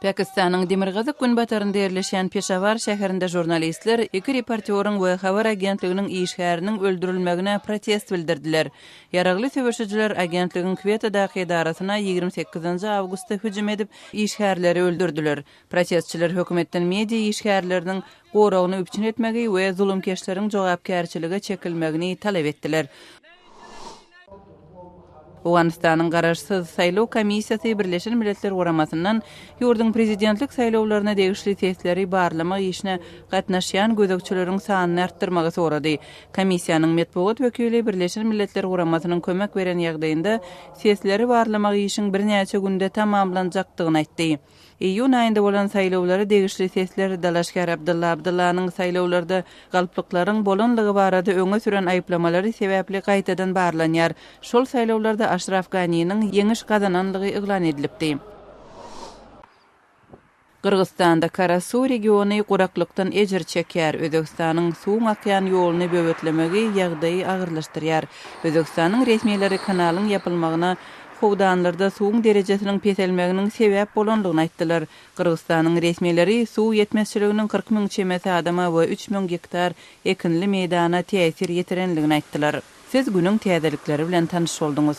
Pakistanyň demirgazyk-günbatarynda ýerleşýän Peşawar şäherinde žurnalistler iki reportýoryň we habar agentliginiň işgäriniň öldürilmegine protest bildirdiler. Ýaragly söweşijiler agentligiň Kwetadaky edarasyna ýigrimi sekizinji awgustda hüjüm edip, işgärleri öldürdiler. Protestçiler hökümetden media işgärleriniň goragyny üpjün etmegi we zulumkeşleriň jogapkärçilige çekilmegini talap etdiler. Owganystanyň garaşsyz saýlaw komissiýasy Birleşen Milletler Guramasyndan ýurduň prezidentlik saýlawlaryna degişli sesleri barlamak işine gatnaşýan gözegçileriň sanyny artdyrmagy sorady. Komissiýanyň metbugat wekili Birleşen Milletler Guramasynyň kömek beren ýagdaýynda sesleri barlamak işiň birnäçe günde tamamlanjakdygyny aýtdy. Iýun aýynda bolan saýlawlara degişli sesler dalaşgär Abdylla Abdyllanyň saýlawlarda galplyklaryň bolanlygy barada öňe süren aýyplamalary sebäpli gaýtadan barlanýar. Şol saýlawlarda Aşraf Ganiniň ýeňiş gazananlygy yglan edilipdi. Gyrgyzystanda Karasu regiony guraklykdan ejir çekýär, Özbegistanyň suwuň akýan ýoluny böwetlemegi ýagdaýy agyrlaşdyrýar. Özbegistanyň resmileri kanalyň ýapylmagyna howdanlarda suwuň derejesiniň peselmeginiň sebäp bolandygyny aýtdylar. Gyrgyzstanyň resmileri suw ýetmezçiliginiň kyrk müň çemesi adama we üç müň gektar ekinli meýdana täsir ýetirendigini aýtdylar. Siz günüň täzelikleri bilen tanyş bolduňyz.